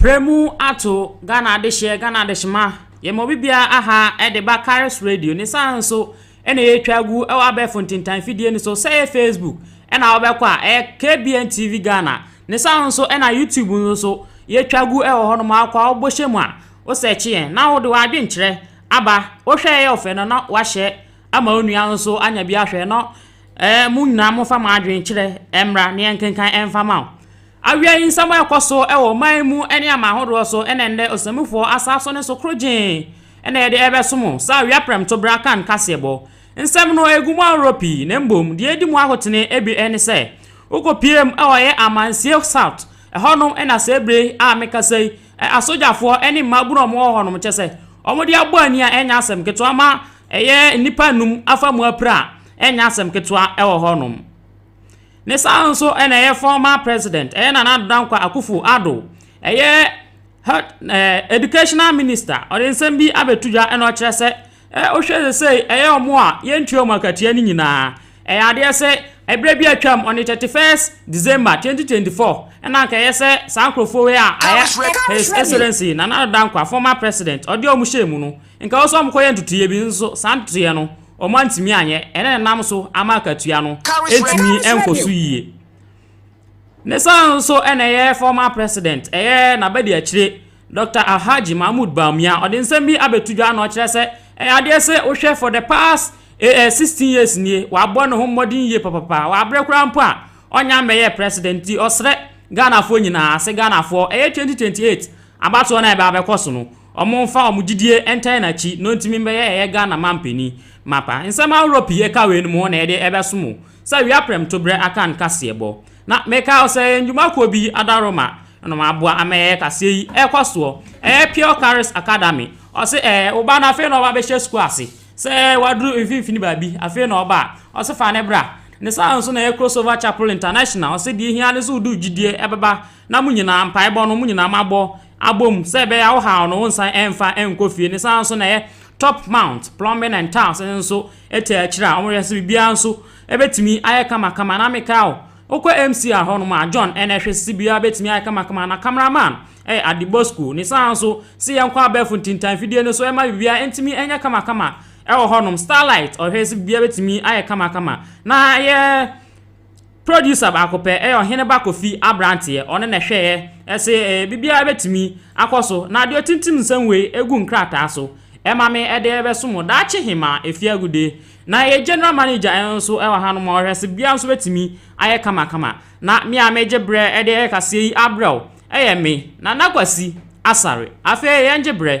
Premu ato Ghana adehyeɛ Ghana adehyema yɛma obi biara aha de ba Karis Radio ne saa nso na yɛtwa gu wɔ abɛɛfo ntentan fidie no so sɛ ɛyɛ facebook ɛna wobɛkɔ a ɛyɛ KBN TV Ghana ne saa nso ɛna YouTube no so yɛtwa gu ɛwɔ hɔ no ma akɔ a wobɔ hyɛ mu a wosɛkye yɛn na wode w'adwenkyerɛ aba wohwɛ ɛyɛ ɔfɛ no na wahyɛ ama wo nua nso anya bi ahwɛ no ɛɛ mo nyinaa mofa mo adwenkyerɛ ɛmmra ne yɛnkenkan ɛmfa ma wo Awia yi nsɛm a ɛkɔ so wɔ ɔman yi mu ne aman ahodoɔ so na ɛnnɛ Ɔsammufoɔ Asaw so ne so korogyee na yɛde rebɛso mo sɛ awia prɛmto berɛ akan kaseɛbɔ. Nsɛm no gu mu ahoroɔ pii na mmom deɛ ɛdi mu ahotene bi ne sɛ wokɔpieem wɔ yɛ Amansie South, ɛhɔnom na saa berɛ yi a mekasa yi asogyafoɔ ne mmabunu a wɔwɔ hɔnom kyɛ sɛ wɔde abɔ ani a ɛnyɛ asɛm ketewa ma ɛyɛ nnipa nnum afa mu apira a ɛnyɛ asɛm ketewa wɔ hɔnom. Ne saa nso na ɛyɛ former president, ɛyɛ Nana Addo Dankwa Akufo Addo, ɛyɛ health, eh, educational minister, ɔde nsɛm bi abɛto dwa na ɔkyerɛ sɛ eh, wohwɛ sɛ sei ɛyɛ ɔmo a yɛntua ɔmo akatua no nyinaa ɛyɛ adeɛ sɛ ɛberɛ bi atwam on the 31st December 2024 ɛna nka ɛyɛ sɛ saa nkurɔfoɔ wei a ayɛ His Excellency Nana Addo Dankwa former president ɔde ɔmo hyɛ mu no Nka nso wɔkɔyɛɛ ntotoeɛ bi nso saa ntotoeɛ no wɔantumi anyɛ ɛna ɛnam so ama akatua no ɛtumi nkɔ so yie. Ne saa nso ɛna ɛyɛ former president ɛyɛ n'abadiakyire Dr. Alhaji Mahmoud Bawumia ɔde nsɛm bi abɛto dwa na ɔkyerɛ sɛ ɛyɛ adeɛ sɛ wohwɛ for the past eh, 16 eh, years nie wabɔ ne ho mmɔden yie papapa wabrɛ koraa mpo a ɔnya mmɛyɛ president nti ɔsrɛ Ghanafoɔ nyinaa sɛ Ghanafoɔ ɛyɛ 2028 abatoɔ no a ɛbɛkɔ so no Ɔmo nfa ɔmo gyidie ntɛɛ nakyi no ntimi mbɛyɛ ɛyɛ Ghana manpani mapa. Nsɛm ahorɔ pii ɛka wei no mu hɔ na yɛde ɛbɛso mo sɛ wia prɛmtobrɛ aka no kaseɛbɔ. Na mekae ɔsɛ yɛ ndwuma kuo bi Adaroma na ɔmo aboa ama yɛyɛ kaseɛ yi ɛkɔ soɔ. Ɛyɛ Pure Charis Academy. Ɔse ɛɛ wo ba no afei na ɔba bɛhyɛ sukuu ase. Sɛ waduru mfinfini baabi afei na ɔba a ɔse fa no bra. Ne saa nso na ɛyɛ Crossover Chapel International. Ɔse deɛ ehia ne sɛ wode wo gyidie ɛbɛba na mo nyinaa mpaebɔ no mo nyinaa mo abɔ Abom, sɛ ɛbɛyɛ a wohaw no wonsan ɛmfa ɛnkɔ fie ne saa nso na ɛyɛ top mount plumbing and tiles no nso ɛtɛ akyire a wɔyɛ sɛ biribiara nso ɛbɛtumi ayɛ kamakama na meka wo wokɔ MCR hɔ nom a John ɛna ɛhwɛ sisi biara bɛtumi ayɛ kamakama na camera man ɛyɛ Adebosco ne saa nso se yɛnkɔ abɛɛfo ntintan fidie no so ɛma biribiara ɛntumi ɛnyɛ kamakama ɛwɔ hɔ nom Starlight ɔhwɛ sɛ biribiara bɛtumi ayɛ kamakama na yɛ Producer baako pɛ, ɛyɛ Ɔhene ba Kofi aberanteɛ, ɔno na ɛhwɛeɛ. Ɛse eh, biribiara bɛtumi akɔ so, na deɛ ɔtintim nsɛm wei gu nkrataa so, ɛma me ɛde bɛso mo daakye hemaa Efiagude. Na yɛn General Manager nso wɔ hanom a ɔhwɛ se biribiara nso bɛtumi ayɛ kamakama. Na me a megye berɛ de ɛyɛ kaseɛ yi abrɛ wo, ɛyɛ me, Nana Kwasi Asare. Afei yɛngye berɛ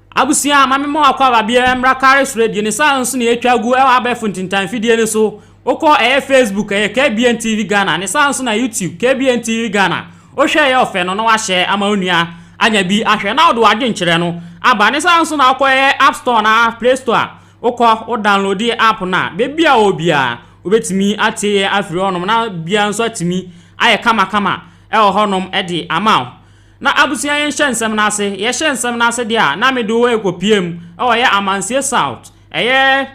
Abusua, ma memmɔ w'akwaaba biara mmra kare soro abien, ne saa ara nso na yɛatwa agu wɔ abɛɛfo ntintan mfidie no so. Wokɔ, ɛyɛ Facebook, ɛyɛ KBN TV Ghana, ne saa ara nso na YouTube, KBN TV Ghana. Wohwɛ a ɛyɛ ɔfɛ no na woahyɛ ama wo nua anya bi ahwɛ na wode w'adwenkyerɛ no aba. Ne saa ara nso na wokɔ, ɛyɛ App Store anaa Play Store a, wokɔ, wo download app no a, baabi a ɔwɔ biara wobɛtumi atie yɛn afiri hɔnom na biribiara nso atumi ayɛ kamakama wɔ hɔnom de ama wo. Na abusua yɛn hyɛ nsɛm no ase, yɛ hyɛ nsɛm no ase deɛ a, na me de wo ɛkɔ pie mu, ɛwɔ yɛ Amansie South, ɛyɛ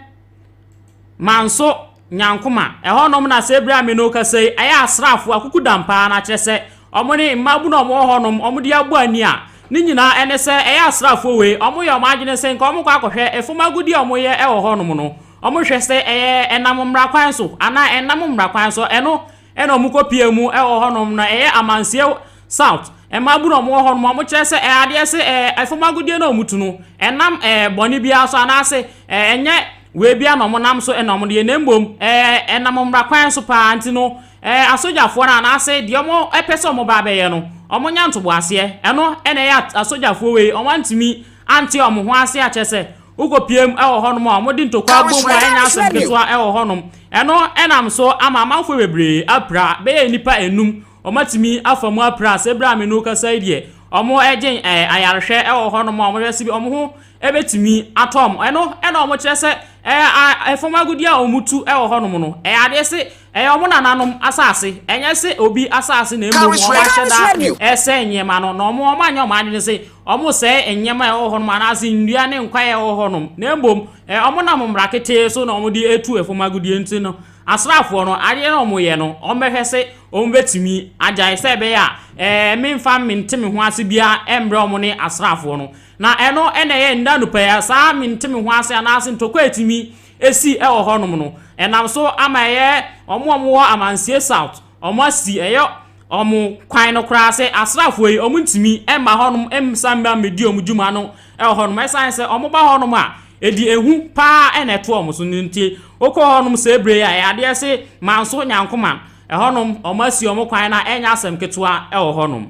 Manso, Nyankoma, ɛhɔ nom na sɛ bere a me ne wo kasa yi, ɛyɛ asraafoɔ, akukudam paa, na kyerɛ sɛ, wɔn ne mmaabu na wɔn wɔ hɔ nom, wɔn de abɔ ani a, ne nyinaa ɛne sɛ, ɛyɛ asraafoɔ wei, wɔn yɛ wɔn adwene sɛ, nka wɔn kɔ akɔhwɛ, efom agodie a wɔn yɛ ɛwɔ hɔ nom no, wɔn hwɛ sɛ, ɛyɛ ɛnam mmara kwan so, anaa ɛnnam mmara kwan so, ɛno, ɛna ɔmo kɔ pia mu ɛwɔ hɔ nom na ɛyɛ amanseɛ south ɛmaa bu na ɔmo wɔ hɔ nom ɔmo kyerɛ sɛ ɛadeɛ se ɛɛ ɛfam agodie na ɔmo tu no ɛnam ɛɛ bɔne biara so anaase ɛɛ ɛnyɛ wei biara na ɔmo nam so ɛna ɔmo deɛ na mmom ɛɛ ɛnam mmra kwan so paa nti no ɛɛ asogyafoɔ no anaase deɛ ɔmo ɛpɛ sɛ ɔmo ba abɛyɛ no ɔmo nya ntoboaseɛ ɛno ɛna ɛyɛ asogyafoɔ wei ɔmo antumi ante ɔmo ho ase akyɛ sɛ Wokɔ piam ɛwɔ hɔnom a, wɔde ntokwa bom a ɛnyɛ asɛm ketewa ɛwɔ hɔnom. Ɛno ɛnam so ama amanfoɔ bebree apira. Bɛyɛ nnipa enum wɔn atumi afa mu apira. Sɛ bere a me ne wo kasa yi deɛ, wɔn ɛgye ɛɛ ayarehwɛ ɛwɔ hɔnom a wɔhwɛ sɛbi wɔn ho ɛbɛtumi atɔ wɔn. Ɛno ɛna wɔkyerɛ sɛ ɛɛ a ɛfam agudeɛ a wɔtu ɛwɔ hɔnom no ɛyɛ adeɛ se Ɛyɛ wɔn nananom asase, ɛnyɛ sɛ obi asase na mmom wɔn ahyɛda resɛe nneɛma no, na wɔn wɔn anyɛ wɔn adwene sɛ wɔresɛe nneɛma a ɛwɔ hɔnom anaasɛ nnua ne nkwan a ɛwɔ hɔnom, na mmom ɛyɛ wɔn nam mmara ketee so na wɔde atu ɛfam agudeɛ nti no, asraafoɔ no, adeɛ no a wɔyɛ no, wɔbɛhwɛ sɛ wɔbɛtumi agyae sɛ ɛbɛyɛ a memfa mente me ho ase biara mmerɛ wɔn ne asraafoɔ no. Na ɛno na ɛyɛ nnɛ anɔpa yi a saa mente me ho ase anaasɛ ntɔkwa a ɛtumi asi wɔ hɔnom no, ɛnam so ama ɛyɛ wɔn a wɔwɔ Amansie South, wɔasi ɛyɛ wɔn kwan no koraa sɛ asraafoɔ yi wɔntumi mma hɔnom mmsa mma mmɛdi wɔn dwuma no wɔ hɔnom. Ɛsiane sɛ wɔba hɔnom a, ɛde ehu pa ara na ɛto wɔn so no nti, wokɔ hɔnom saa berɛ yi a, ɛyɛ adeɛ se manso nyankoman. Ɛhɔnom, wɔasi wɔn kwan na ɛnyɛ asɛm ketewa wɔ hɔnom.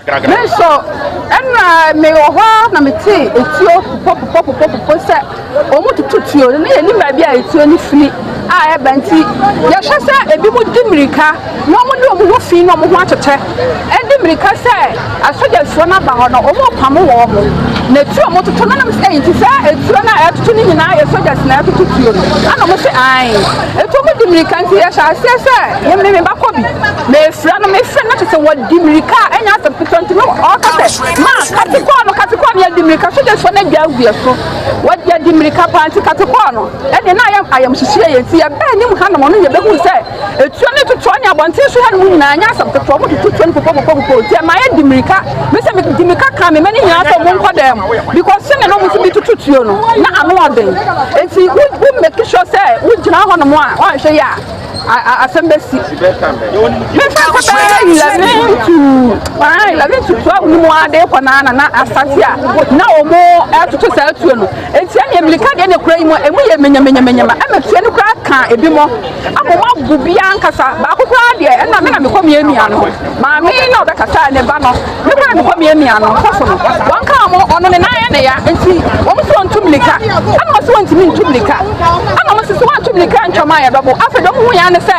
Me nso, ɛnna mewɔ hɔ ara na metee etuo popopopopopopɔ sɛ wɔtutu tuo no, na yɛnim baabi a etuo no firi a ɛba nti, yɛhwɛ sɛ ebinom di mmirika na wɔde wɔn ho fi na wɔn ho atwetwe de mmirika sɛ asogyafoɔ no aba hɔ no, wɔrepamo wɔn. Na etuo a wɔtoto no nam sɛ ɛyi nti saa etuo no a ɛtoto no nyinaa yɛ sogyas na ɛtoto tuo no, ɛna wɔn sɛ ae. Etuo mu di mmirika nti yɛhyɛ aseɛ sɛ Me me mebakɔ bi mefira no mefira no kyɛ sɛ wɔdi mirika a ɛnyɛ asɛm ketewa nti no ɔka sɛ ma katekɔɔ no katekɔɔ no yɛdi mirika so de so no adwa agu yɛ so wɔde adi mirika paa nti katekɔɔ no ɛne na ayɛ ayamhyehyeɛ yɛ nti yɛbɛɛ ne mu hanom ɔno yɛbɛhu sɛ ɛtuo ne totoɔ ne abɔnten so ha no mu nyinaa nyɛ asɛm ketewa mo tototuo no popopopopopɔ nti ɛma yɛdi mirika me sɛ medi mirika ka me ma ne nyinaa sɛ monkɔ dɛn mu because sɛ ne no mo so bi tototuo no na ano ɔden nti wo make sure sɛ wogyina hɔ nom a woanhwɛ yɛ a asɛm bɛsi mefa sɛ bɛyɛ eleven to ah, eleven to twelve no mu ade kɔ naa na na asase a na ɔmo ɛtoto saa tuo no nti ɛne mmirika deɛ ne kura yi mu ɛmu yɛ menyamanyamanyama ɛna tuo no kura ka ebi mɔ ama ɔmo abu bia nkasa baako koraa deɛ ɛna me na mekɔ mmienu ano maame na ɔbɛkasa ne ba no Mo kaa no kɔ miamia no mpo so no, wɔn kaa mo ɔno ne nan yɛ ne ya nti wɔn so ntu mirika. Ɛna wɔn so wɔntumi ntu mirika. Ɛna wɔn sisi wɔn ntu mirika ntwam a yɛbɛ bo. Afei dɔm hu yɛn ne sɛ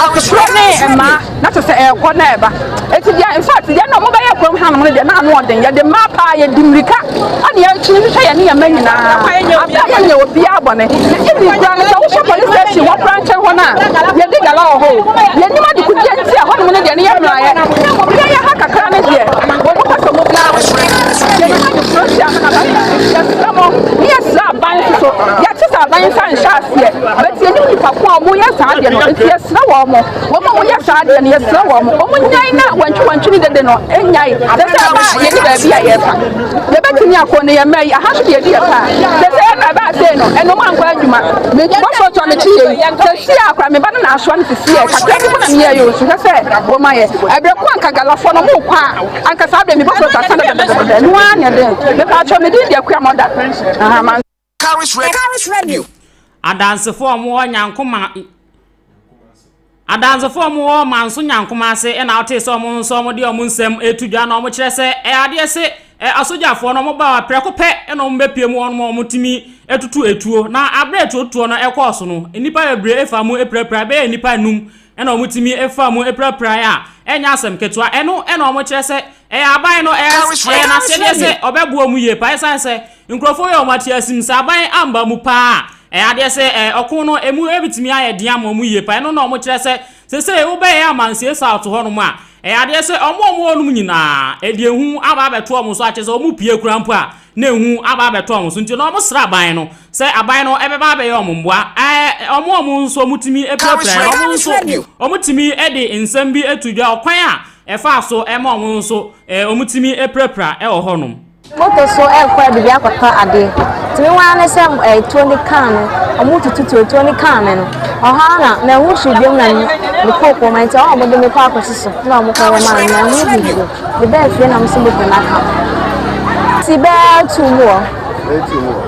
akotorɔ ne mmaa na te sɛ ɛɛkɔ na ɛba. Eti deɛ in fact deɛ na wɔn bɛyɛ kurom hanom no deɛ na ano ɔden yɛde mmaa paa yɛdi mirika Sɛnea enti ne sɛ yɛne yɛn mma nyinaa apɛ yɛnyɛ obiara bɔne. Even koraa no sɛ wohwɛ police station hɔ koraa nkyɛn hɔ no a, yɛdi gala wɔ hɔ o. Yɛnim adekodeɛ nti a hɔnom no deɛ no yɛ mmerayɛ. Deɛ ɛyɛ ha kakra no deɛ, wɔpɛ sɛ wɔbu ara wɔ kwan no so. Yɛde ha de kuro hyia no aba saa. Yɛsrɛ mo na yɛsrɛ aban nso so. Yɛte sɛ aban nsa nhyɛ aseɛ but yɛnim nnipa ko a wɔyɛ saa adeɛ no nti yɛsrɛ wɔn. Wɔn a wɔyɛ saa adeɛ no yɛsrɛ wɔn wɔnnyae na wantwiwantwi ne dede no nnyae. Sɛ sɛ ɛba a yɛni baabi a yɛrefa. yɛbɛtumi akɔ no yɛ mmerɛ yi aha so deɛ ɛdi yɛ paa sɛsɛ ɛna ɛbɛ asee no ɛno mu ankɔ adwuma mebɔfoɔ tɔ me kyi yei sɛsi a kora meba no na asoa no sisi yɛ kakra bi mu na meyɛ yɛ osu hwɛ sɛ wɔma yɛ ɛberɛ ko anka galafoɔ no mo kɔ a anka saa berɛ mebɔfoɔ tɔ asana dɛdɛdɛdɛ no ara ne ɛdɛn mepɛ atwɔ medin deɛ kua mɔda aha Charis Radio. Charis Radio. Adansefo a wɔwɔ Nyankoma Adansefo a wɔwɔ Manso Nyankoma ase na wotee sɛ wɔn nso wɔde wɔn nsɛm reto dwa na wɔkyerɛ sɛ adeɛ se asogyafoɔ no wɔba a prɛko pɛ na wɔbɛpie mu wɔn ma wɔtumi tutu etuo na aberɛ etuotuo no ɛkɔɔ so no nnipa bebree fa mu apirapira bɛyɛ nnipa num Ɛna wɔn tumi faa mu pirapirai a ɛnyɛ asɛm ketewa. Ɛno na wɔn kyerɛ sɛ ɛyɛ aban no ɛyɛ n'asɛdeɛ sɛ ɔbɛboa wɔn yie paa. Ɛsan sɛ nkurɔfoɔ yɛ wɔn ateasim. Sɛ aban amba mu paa a, ɛyɛ adeɛ sɛ ɔko no ɛmu ɛbɛtumi ayɛ den ama wɔn yie paa. Ɛno na wɔn kyerɛ sɛ sɛsɛɛ wobɛyɛ amansie South hɔ nom a Ɛyɛ adeɛ sɛ wɔn a wɔwɔ nom nyinaa, ɛde ehu aba abɛto wɔn so, akyerɛ sɛ wɔpue koraa mpo a, na ehu aba abɛto wɔn so. Nti no, wɔsrɛ aban no sɛ aban no bɛba abɛyɛ wɔn mmoa. Ɛɛ, wɔn a wɔn nso wɔtumi pirapira yɛn, wɔn nso wɔtumi de nsɛm bi to dwa, ɔkwan a ɛfaa so ma wɔn nso wɔtumi pirapira wɔ hɔnom. Moto so rekɔ baabi akɔtɔ ade. Nti me ara ne sɛ tuo ne kaa me, wɔretutu tuo, tuo ne kaa me no, ɛhɔ ara na manhu hwee biom na mekɔɔ kurom. Nti ɛhɔ na wɔde me kɔɔ akɔsi so na wɔkɔyɛ maa me, manhu hwee bio. Mebaa fie na wɔsi moto no aka me. Nti bɛyɛ atuu mu hɔ.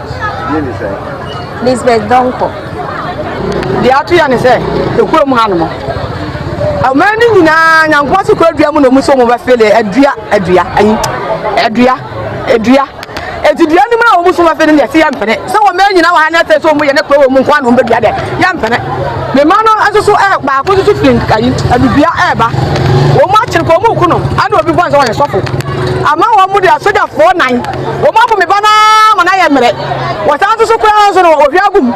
Din ne sɛn? Lisbeth Donkor. Deɛ ato yɛ ne sɛ, ɛkura mu hanom. Ɔman no nyinaa Nyankopɔn se kura dua mu na ɔmu so ɔmu bɛfele adua adua ayi adua adua eti dua no mu na ɔmu so bɛfele deɛ se yɛ mpene sɛ ɔman nyinaa wɔ ha na ɛsɛ sɛ ɔmu yɛ ne kura wɔ mu nko a na ɔmu bɛdua deɛ yɛ mpene ne ma no nso so ɛɛ baako nso so firi ayi adudua ɛɛba wɔn akyere kɔ wɔn ku no ɛna obi bɔ nsɛ wɔn yɛ sɔfo ama wɔn de asogyafoɔ nan. Wɔapo me ba no ara ma no ayɛ mmerɛ. Wɔsan nso so koraa nso no, ɔhwie agu mu.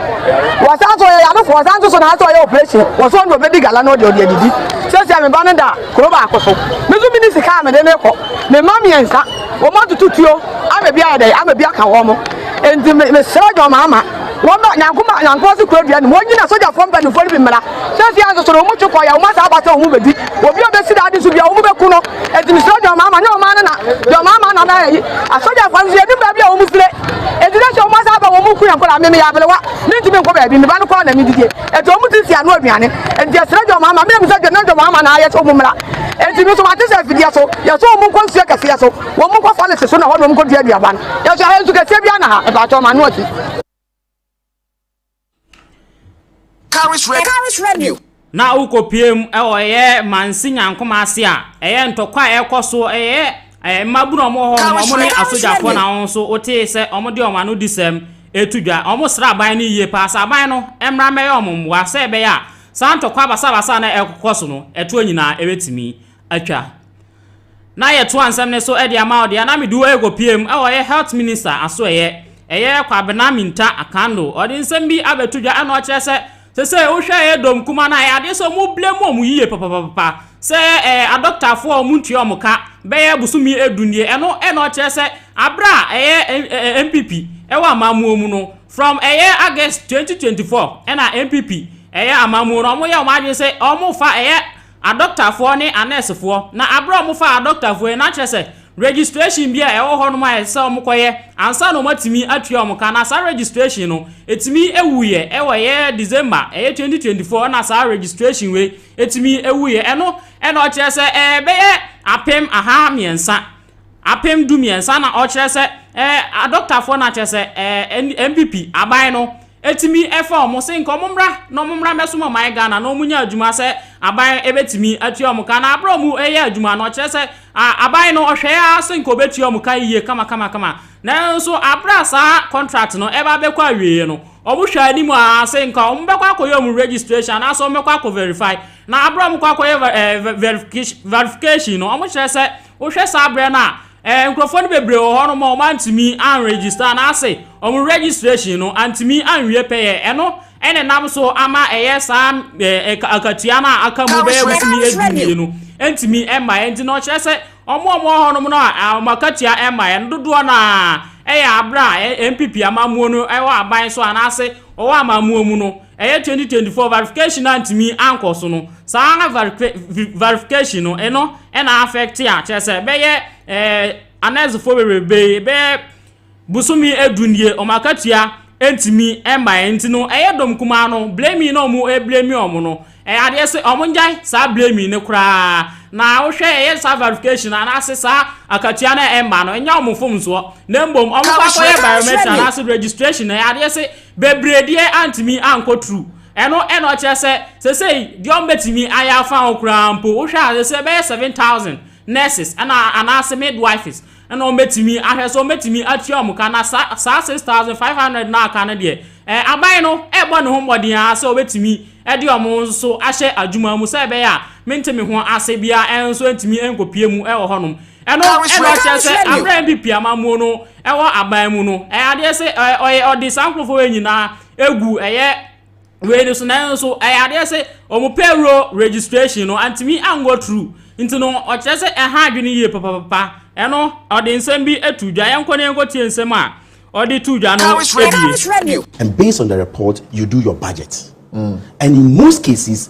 Wɔsan nso ɔyɛ yanofoɔ, wɔsan nso so na asɛ ɔyɛ operation. Wɔso ɔno ɔbɛdi gala na ɔde ɔde adidi. Seesei me ba no da kuro baako so. Me nso menni sika a mede no rekɔ. Me mma mmiɛnsa, wɔatutu tuo ama bi ayɛ dɛn, ama bi aka wɔn. Enti mesrɛ dwamama. Wɔma Nyankoma Nyankoma so kura dua no mu. Wɔnyina sogyafoɔ mpanimfoɔ no bi mmara. Seesei ara nso so no, wɔtwe kɔ yɛ wɔn asan aba sɛ wɔbɛdi obi a ɔbɛsi daade so dua, wɔbɛku no. Enti mesrɛ deɛ ɔmaa ma, nyɛ ɔmaa no na, deɛ ɔmaa ma na na ɛyi. Asogyafoɔ no nso, yɛnim baabi a wɔfire. Enti na sɛ wɔasan aba a, wɔku yɛn nkwadaa. Me meyɛ aberewa, mentumi nkɔ baabi, me ba no koraa na medidie. Enti wɔte nsi ano aduane. Enti yɛsrɛ deɛ ɔmaa ma, me na mebisa deɛ na deɛ ɔmaa ma na ayɛ sɛ wɔmmra. Enti me nso mate sɛ afidie so, yɛsɔ wɔn nkɔ nsuo kɛseɛ so. Wɔn mu kɔfa no se so na hɔ na wɔn kɔdua aduaba no. Nanso ɛha nsu kɛseɛ biara na ha. Mpakyɛw ma ano ati. Caris Radio. Caris Radio. Na wokɔpueem wɔ ɛyɛ Mansi Nyankoma ase a, ɛyɛ ntɔkwa a ɛrekɔ so, ɛyɛ mmabunu a wɔwɔ hɔ nom, wɔn ne asogyafoɔ na wɔn nso wotee sɛ wɔde wɔn anodisɛm reto dwa. Wɔsrɛ aban no yie paa sɛ aban no mmra mmɛyɛ wɔn mmoa sɛ ɛbɛyɛ a saa ntɔkwa basabasa a na ɛrekɔ so no, ɛtoɔ nyinaa ɛbɛtumi atwa. Na yɛtoa nsɛm no so de ama wo deɛ na mede wo rekɔpie mu, ɔyɛ Health Minister asoɛeɛ, ɛyɛ Kwabena Mintah Akando, ɔde nsɛm bi abɛto dwa na ɔkyerɛ sɛ sesei wohwɛ ɛyɛ dɔm kumaa no a, ɛyɛ adeɛ sɛ wɔn blame wɔn yie papapapa sɛ ɛɛ adɔktafoɔ a wɔn ntua wɔn ka bɛyɛ bosome edu nie, ɛno ɛna ɔkyerɛ sɛ aberɛ a ɛyɛ ɛɛ NPP ɛwɔ amammuo mu no from ɛyɛ August 2024 ɛna NPP ɛyɛ amammuo no wɔn yɛ wɔn adwene sɛ wɔn fa ɛyɛ adɔktafoɔ ne anɛɛsefoɔ, na aberɛ a wɔfaa adɔktafoɔ yi, na kyerɛ sɛ registration bi a ɛwɔ hɔnom a ɛsɛ sɛ wɔkɔyɛ ansa na wɔatumi atua wɔn ka, na saa registration no, ɛtumi wuiɛ, ɛwɔ ɛyɛ December, ɛyɛ 2024 na saa registration wei ɛtumi wuiɛ, ɛno na ɔkyerɛ sɛ ɛbɛyɛ apem aha mmiɛnsa Apem du mmiɛnsa na ɔkyerɛ sɛ ɛɛ adɔktafoɔ no akyerɛ sɛ ɛɛ NPP aban no ɛtumi ɛfa wɔn se nka wɔn mmra na wɔn mmra mmɛsom ɔman Ghana na wɔn nya adwuma sɛ aban ɛbɛtumi atua wɔn ka na abere wɔn ɛyɛ adwuma no ɔkyerɛ sɛ aban no ɔhwɛɛ ara se nka ɔbɛtua wɔn ka yie kama kama kama nanso abere a saa contract no ɛba bɛkɔ awieɛ no wɔn hwɛ anim a se nka wɔn bɛkɔ akɔyɛ wɔn registration anaasɛ wɔn bɛkɔ akɔ verify na abere wɔn kɔ akɔyɛ verification no wɔn kyerɛ sɛ Wohwɛ saa berɛ no a, eh, nkurɔfoɔ no bebree wɔ hɔ nom a wɔantumi anregister anaasɛ wɔn registration no antumi anwie pɛyɛ. Ɛno ɛna nam so ama ɛyɛ saa eh, akatua no a aka mu bɛyɛ bosome edu mmienu ntumi mmaeɛ nti na ɔkyerɛ sɛ wɔn a wɔwɔ hɔ nom no a wɔn akatua mmaeɛ no dodoɔ no a ɛyɛ abere a eh, NPP amammuo no ɛwɔ aban so anaasɛ wɔwɔ amammuo mu no Ɛyɛ twenty twenty four verification no antumi ankɔ so no saa verifi verification no ɛno ɛna affect a kyerɛ sɛ bɛyɛ ɛɛ anɛsfoɔ bebrebe bɛyɛ bosome edu nie wɔn akatua ɛntumi ɛmbaeɛ nti no ɛyɛ dɔm kumaa no blaming na wɔn ɛblaming wɔn no ɛyɛ adeɛ sɛ wɔn ngyae saa blaming no koraa na wohwɛ ɛyɛ saa verification anaase saa akatua no ɛmba no ɛnyɛ wɔn mfomsoɔ na mbom wɔn kɔ akɔyɛ biometric anaase registration ɛyɛ adeɛ sɛ Bebree deɛ antumi ankɔ tru. Ɛno na ɔkyerɛ sɛ sesei deɛ ɔmo bɛtumi ayɛ afa ho koraa mpo, wohwɛ a sesei bɛyɛ seven thousand nurses ɛna anaase midwives ɛna ɔmo bɛtumi ahwɛ so ɔmo bɛtumi atua ɔmo ka na saa saa six thousand five hundred no a aka no deɛ ɛɛ aban no ɛɛbɔ ne ho mmɔden ara sɛ ɔbɛtumi ɛde ɔmo nso ahyɛ adwuma mu sɛ ɛbɛyɛ a mente me ho ase biara ɛnso ɛntumi ɛnkɔpue mu ɛwɔ hɔnom. Ɛno ɛna ɔkyerɛ sɛ aberɛ a NPP amammuo no ɛwɔ aban mu no, ɛyɛ adeɛ se ɔyɛ ɔde saa nkorɔfoɔ wei nyinaa egu ɛyɛ wei no so nanso ɛyɛ adeɛ se wɔn payroll registration no antumi ango through nti no ɔkyerɛ sɛ ɛha adwene yie papapapa ɛno ɔde nsɛm bi to dwa yɛnkɔ na yɛnkɔ tie nsɛm a ɔde to dwa no ebie. And based on the report you do your budget and in most cases.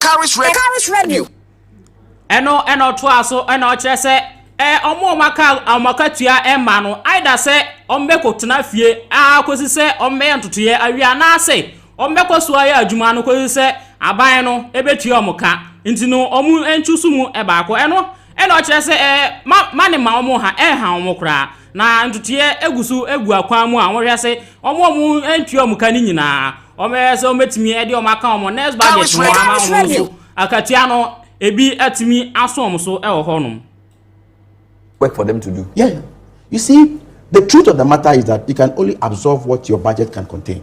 Carries revenue. Carries revenue. Ɛno ɛna ɔtoa so ɛna ɔkyerɛ sɛ ɛɛ wɔn a wɔaka wɔn akatua ɛma no either sɛ wɔbɛkɔ tena fie aa kɔsi sɛ wɔbɛyɛ ntotoeɛ awie anaasɛ wɔbɛkɔ so ayɛ adwuma no kɔsi sɛ aban no ɛbɛtua wɔn ka nti no wɔn ntu so mu ɛbaako ɛno Ɛnna ɔkyerɛ sɛ, Ɛɛ, ma, ma ne mma wɔn ha, ɛrenha wɔn koraa. Na ntotoeɛ gu so gu akwan mu a wɔhwɛ ase, wɔn a wɔantua wɔn ka no nyinaa, wɔbɛyɛ sɛ wɔbɛtumi de wɔn aka wɔn nurse budget ho ama wɔn nso. Akatua no, ebi atumi aso wɔn so wɔ hɔnom. Work for them to do. Yeah. You see, the truth of the matter is that you can only absorb what your budget can contain.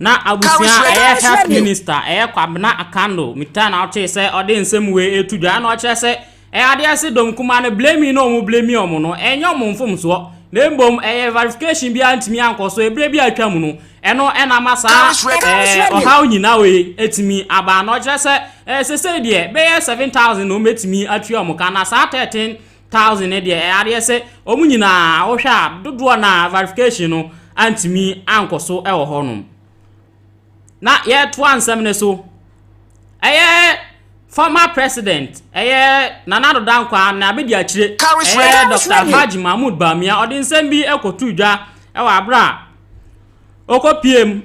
Na abusua ɛyɛ health minister ɛyɛ Kwabena Akanno metaa na ɔtee sɛ ɔde nsɛm wei ɛreto dwa ɛna ɔkyerɛ sɛ ɛyɛ adeɛ sɛ dɔm kumaa no blaming no a wɔn blaming wɔn no ɛnyɛ wɔn mfomsoɔ na mmom ɛyɛ verification biara ntumi ankɔ so ɛberɛ bi a atwa mu no ɛno ɛna ama saa ɛɛ ɔhaw nyinaa wei ɛtumi aba na ɔkyerɛ sɛ ɛɛ sɛsɛ deɛ bɛyɛ seven thousand na wɔn ɛtumi atua wɔn ka na saa thirteen thousand no deɛ ɛyɛ adeɛ sɛ wɔn nyinaa wohwɛ a dodoɔ na verification no antumi ankɔ so wɔ hɔ nom na yɛtoa nsɛm no so ɛyɛ former president ɛyɛ nana ado dankwa na abedi akyire ɛyɛ dr alhaji mahmood bamia ɔde nsɛm bi ɛkɔto dwa ɛwɔ abere a ɔkɔ pm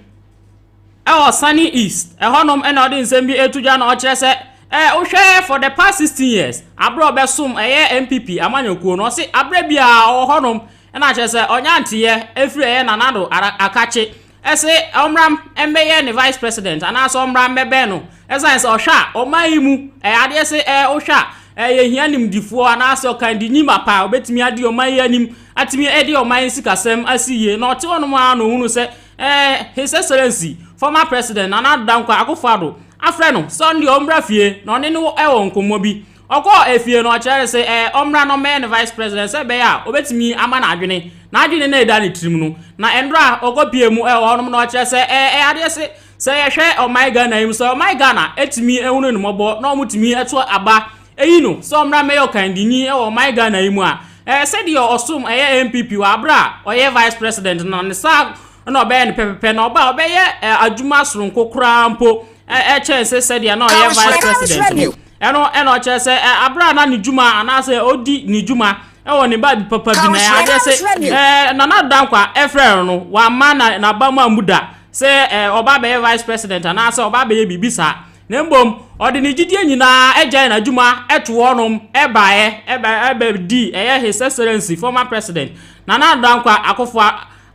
wɔ Sunny East, ɛhɔnom na ɔde nsɛm bi reto dwa na ɔkyerɛ sɛ eh, wohwɛ for the past 16 years, aberɛ a ɔbɛsom ɛyɛ NPP amanyɔkuo no, ɔse aberɛ biara ɔwɔ hɔnom na kyerɛ sɛ ɔnya nteeɛ ɛfiri ɛyɛ Nana Addo Akakye ɛse ɔmmra mmɛyɛ ne Vice President anaasɛ ɔmmra mmɛbɛn no ɛsiane sɛ ɔhwɛ a ɔman yi mu ɛyɛ adeɛ se eh, wohwɛ a eh, yɛhia nimdifoɔ anaasɛ ɔkandinyi mapa a ɔbɛtumi adi ɔman yi anim atumi adi ɔman yi sikasɛm asi yie na ɔte hɔnom ara na ɔhunu sɛ Eh, His Excellency, former President Nana Addo Dankwa Akufo-Addo, afrɛ no sɛ ɔno deɛ ɔmmra fie na ɔne no wɔ nkɔmmɔ bi. Ɔkɔɔ efie no, ɔkyerɛɛ no sɛ eh, ɔmmra na ɔmmɛyɛ ne Vice President sɛ ɛbɛyɛ a ɔbɛtumi ama no adwene, n'adwene no a ɛda ne tirim no. Na ɛnora a ɔkɔpuee mu wɔ hɔnom no, ɔkyerɛɛ sɛ eh, ɛyɛ adeɛ se sɛ yɛhwɛ ɔman Ghana yi mu, sɛ ɔman Ghana tumi hunu no mmɔbɔ na wɔtumi to aba Eyi no, sɛ ɔmmra mmɛyɛ ɔkandini wɔ ɔman Ghana yi mu a, ɛɛ sɛdeɛ ɔsom ɛyɛ NPP wɔ aberɛ a ɔyɛ Vice President no, ne saa na ɔbɛyɛ no pɛpɛpɛ, na ɔba a ɔbɛyɛ adwuma soronko koraa mpo kyɛn se sɛdeɛ na ɔyɛ Vice President no. Ɛno na ɔkyerɛ sɛ aberɛ a na ne dwuma anaasɛ ɔdi ne dwuma wɔ ne baabi papa bi na adeɛ se Nana Addo Dankwa frɛ no no, wamma na n'abam ammu da sɛ ɔba abɛyɛ Vice President anaasɛ ɔba abɛyɛ biribi saa. Na mmom ɔde ne gyidie nyina ara gyae n'adwuma too hɔ nom baeɛ bɛdii ɛyɛ His Excellency former President Nana Addo Dankwa Akufo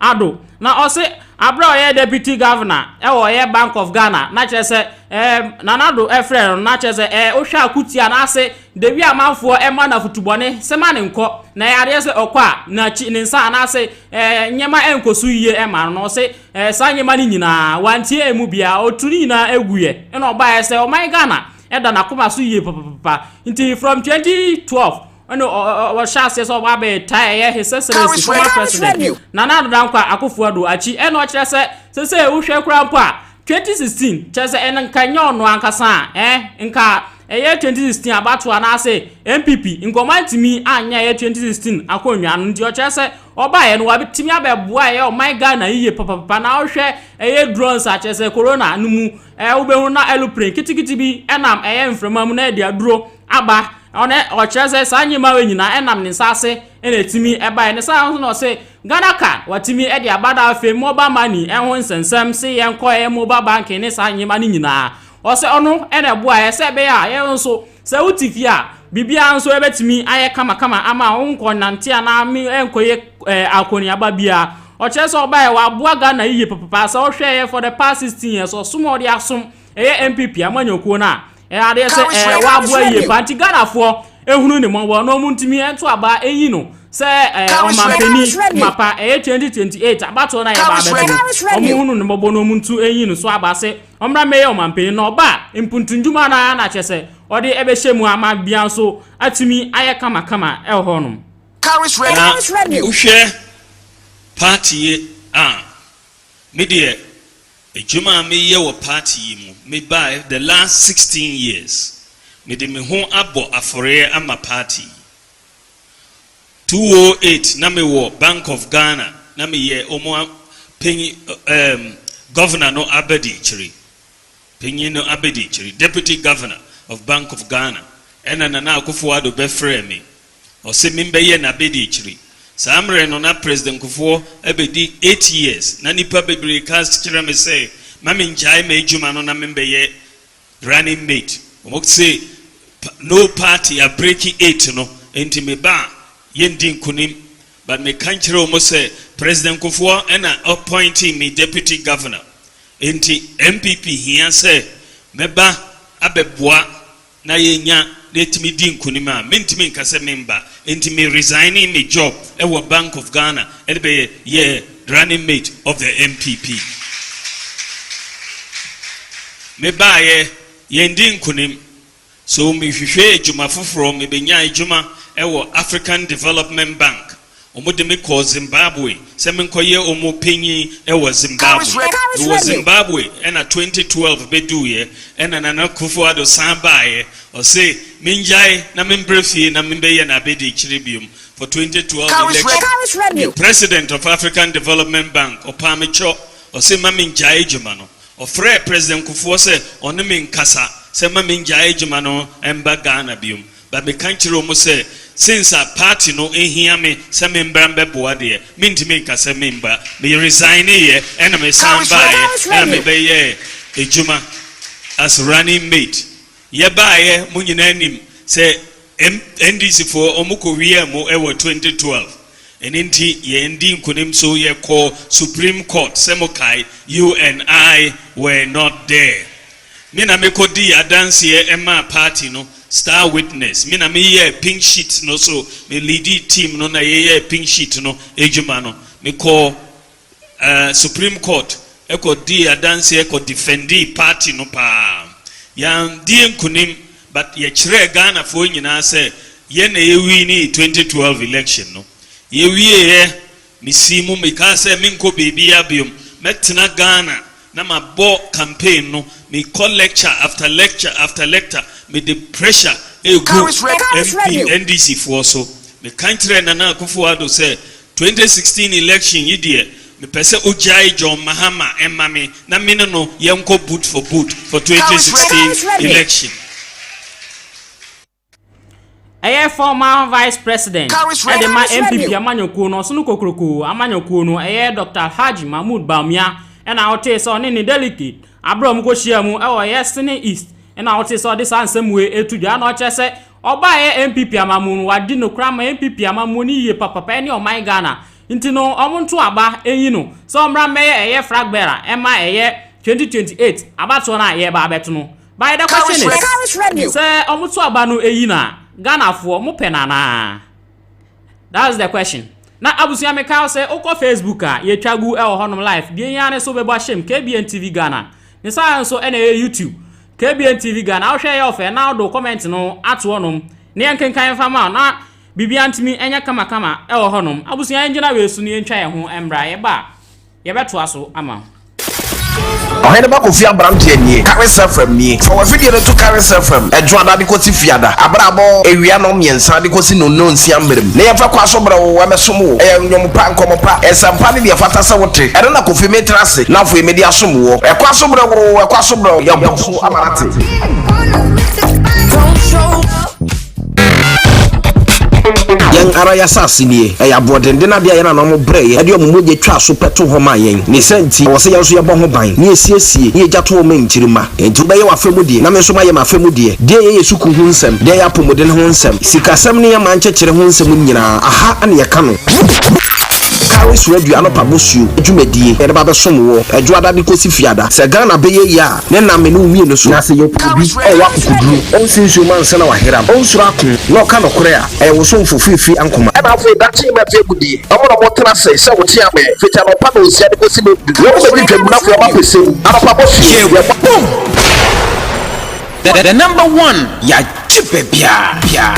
Addo. Na ɔse aberɛ a ɔyɛ Deputy Governor wɔ ɛyɛ Bank of Ghana na kyerɛ sɛ Nana Addo frɛɛ no na kyerɛ sɛ ɛɛ wohwɛ a ko tia no ase de wie amanfoɔ ma no afutu bɔne sɛ ma no nkɔ na ɛyɛ adeɛ sɛ ɔkɔ a n'akyi ne nsa anaase nneɛma nkɔ so yie ma no na ɔse Ɛɛ saa nneɛma no nyinaa wantie ɛmu biara ɔtuu ne nyinaa ɛguiɛ ɛna ɔbaeɛ sɛ ɔman Ghana ɛda n'akoma so yie papapapa nti from 2012 ɛna ɔhyɛ aseɛ sɛ ɔba abɛyɛ tae ɛyɛ his excellence former president Nana Addo Dankwa Akufo Addo akyi ɛna ɔkyerɛ sɛ sɛsɛ wohwɛ koraa mpo a 2016 kyerɛ sɛ ɛna nka nyɛ ɔno ankasa a ɛɛ nka ɛyɛ 2016 abatoɔ anaasɛ NPP nka ɔmantumi anyɛ ɛyɛ 2016 akonnwa no nti ɔkyerɛ sɛ Ɔbaeɛ no wabɛtumi abɛboa ɛyɛ ɔman Ghana yiye papapapa na wohwɛ ɛyɛ drones a kyerɛ sɛ corona no mu ɛɛ wobɛhu na aeroplane kitikiti bi ɛnam ɛyɛ mframa mu na ɛde aduro aba ɔne ɔkyerɛ sɛ saa nneɛma wei nyinaa ɛnam ne nsa ase ɛna ɛtumi ɛbaeɛ ne saa nso na ɔse Ghana card watumi ɛde aba na afei mobile money ɛho nsɛnsɛm se yɛnkɔ ɛyɛ mobile banking ne saa nneɛma no nyinaa ɔse ɔno ɛna ɛboaeɛ sɛ ɛbɛyɛ a yɛn nso Sɛ wote fie a, biribiara nso bɛtumi ayɛ kamakama ama a wonkɔ nnante anaa me nkɔyɛ eh, akɔneaba biara. Ɔkyerɛ sɛ ɔbaeɛ waboa Ghana yiye papapaa sɛ wohwɛeɛ for the past 16 years ɔsom a ɔde asom ɛyɛ NPP amanyɔkuo no a eh, adeɛ sɛ eh, waboa yiye paa nti Ghanafoɔ ehunu ne mmɔbɔ na wɔn ntumi nto aba eyi no sɛ eh, ɔmampanin mapa ɛyɛ 2028 abatoɔ no a yɛba abɛto no wɔn hunu ne mmɔbɔ na wɔn ntu eyi no so aba sɛ ɔmmra mmɛyɛ ɔmanpanyin na ɔba a mpuntu ndwuma no ara na kyerɛ sɛ ɔde bɛhyɛ mu ama bia nso atumi ayɛ kamakama wɔ hɔ nom. Na wohwɛ party yi a, me deɛ adwuma a me yɛ wɔ party yi mu, me baɛ the last sixteen years, me de me ho abɔ aforeɛ ama party yi. 2008 na me wɔ Bank of Ghana na me yɛ ɔmo panyin ɛɛm Governor no abadikyiri panyin no abadikyiri Deputy Governor of Bank of Ghana ɛna Nana Akuffo Addo bɛ frɛɛ me ɔse me bɛ yɛ n'abadikyiri saa mmerɛ no na President Nkufoɔ abɛdi 8 years na nipa bebree ka kyerɛ me sɛ ma me ngyae m'adwuma no na me bɛ yɛ Running mate wɔn se no party ya breaki eight no nti me ba a yɛn di nkunim but me ka nkyerɛ wɔn sɛ president Kufuɔ na appointee me deputy governor nti NPP hia sɛ me ba abɛ boa na yɛ nya na yɛtumi di nkunim a me ntumi nka sɛ me mba nti me resignee me job wɔ bank of Ghana ɛde bɛ yɛ Running mate of the NPP. Me baeɛ, yɛn di nkunim. So me hwehwɛ adwuma foforɔ, me bɛnya adwuma wɔ African Development Bank. Wɔn de me kɔɔ Zimbabwe sɛ me nkɔ yɛ wɔn panyin wɔ Zimbabwe. Me wɔ Zimbabwe ɛna 2012 bɛ duuiɛ, ɛna Nana Akufo Addo san baeɛ, ɔse me ngyae na me mbrɛ fie na me bɛyɛ n'abɛdiakyire biom. for twenty twelve election. Karis Remew. President of African Development Bank, ɔpaa me kyɔ, ɔse ma mengyae adwuma no. Ɔfrɛɛ President Kufuor sɛ ɔne me nkasa sɛ ma mengyae adwuma no mba Ghana biom. But meka kyerɛɛ ɔmo sɛ since a party no hia me sɛ membra mbɛboa deɛ, mentumi nka sɛ memba. Me resigneyɛ ɛna mesan baeɛ ɛna mebɛyɛɛ adwuma as running mate. Yɛbaeɛ mo nyinaa nim sɛ NDC foɔ wɔn kɔ wiaa mo wɔ 2012 ɛno nti yɛn dii nkunim so yɛ kɔɔ supreme court sɛ mo kae you and I were not there me na me kɔ dii adanseɛ maa party no star witness me na me yɛɛ pink sheet no so me leadi team no na yɛ yɛɛ pink sheet no adwuma no me kɔɔ eh supreme court kɔ dii adanseɛ kɔ defendii party no paa yan dii nkunim but yɛ kyerɛɛ Ghana foɔ nyinaa sɛ yɛn na yɛ winii 2012 election no yɛ wieɛ me sii mu me kaa sɛ me nkɔ baabiaa biom mɛ tena Ghana na ma bɔ campaign no me kɔ lecture after lecture after lecter me de pressure ɛgu MP NDC foɔ so me kan kyerɛɛ Nana Akuffo Addo sɛ Twenty sixteen election yi deɛ mepɛ sɛ ogyae John Mahama mma me na me ne no yɛnkɔ boot for boot for twenty sixteen election. Ɛyɛ former vice president de ma NPP amanyɔkuo no, ɔsono kokroko amanyɔkuo no, ɛyɛ Doctor Alhaji Mahmood Bawumia na wotee sɛ ɔne ne delegate aberɛ a wɔkɔhyiaa mu wɔ Yɛsene East na wotee sɛ ɔde saa nsɛm wei to dwa na ɔkyerɛ sɛ Ɔbaa yɛ NPP amammuo mu wadi nokora ama NPP amammuo no yie papapa ɛne ɔman Ghana nti no ɔmo nto aba nyi no sɛ ɔmmra mmɛyɛ ɛyɛ flag bearer ɛma ɛyɛ 2028 abatoɔ no a yɛreba abɛto no by the question is sɛ ɔmo to aba no ɛyi no a Ghanafoɔ mo pɛ no anaa that's the question na abusua meka wo sɛ wokɔ Facebook a yɛtwa gu ɛwɔ hɔnom live deɛ hia ne sɛ wobɛbɔ ahyɛm KBN TV Ghana ne saa nso ɛna ɛyɛ YouTube KBN TV Ghana wohwɛ ɛyɛ ɔfɛ na wode wo comment no ato hɔ nom na yɛnkenkan mfa ma wo na biribiara ntumi ɛnyɛ kama kama ɛwɔ hɔ nom abusua yɛngyina wei so na yɛntwa yɛn ho mmra yɛba a yɛbɛtoa so ama wo. Ɔhene ba Kofi aberanteɛ nie, Karen Serfram nie. Fa w'afidie no to Karen Serfram Adwoada de kɔsi Fiada, berɛ a abɔ awia nnɔn mmiɛnsa de kɔsi nnɔnnɔnsia mmerɛ mu, na yɛmfa kwan so brɛ wo, ɛbɛsom wo. Ɛyɛ nnwom pa, nkɔmmɔ pa, nsɛmpa ne deɛ ɛfata sɛ wote. Ɛno na Kofi metra ase na afei mede asom woɔ. Ɛkwan so brɛ wo, ɛkwan so. Gabriel yɛ bɔ so ama no ate. yɛn ara yɛasase nie ɛyɛ aboɔdenden adeɛ a yɛn anom brɛ yɛ ɛde ɔmo mogya twa so pɛto hɔ ma yɛn ne sɛ nti ɛwɔ sɛ yɛn nso yɛbɔ ho ban ne yɛsiesie ne yɛgya to ɔmo nkyirima nti wobɛyɛ w'afɛ mu deɛ na me nso mayɛ m'afɛ mu deɛ deɛ yɛyɛ sukuu ho nsɛm deɛ yɛ apɔmuden ho nsɛm sikasɛm ne yɛ man kyekyere ho nsɛm nyinaa aha ɛne yɛka no. Carey Suadua anɔpa bosuo dwumadie yɛde ba bɛsom woɔ Ɛdwoada de kɔsi Fiada sɛ Ghana bɛyɛ yie a ne nam me ne wo mmienu so. Na sɛ yɛpo obi a ɔwɔ akokoduro ɔnsi nsuo mu ansa na wayeram ɔnsuro ako na ɔka nokorɛ a ɛyɛ wo somfo firi firi ankoma. Ɛna afei da team a ɛfiri agudie ɔmo na ɔmo tena ase sɛ wo tea me fiti anɔpa nonsia de kɔsi nondu wɔn bɛdi twam na afei ɔmo apɛ sɛ mu anɔpa bosuo yɛbɔ. The number one yɛagye baabiara.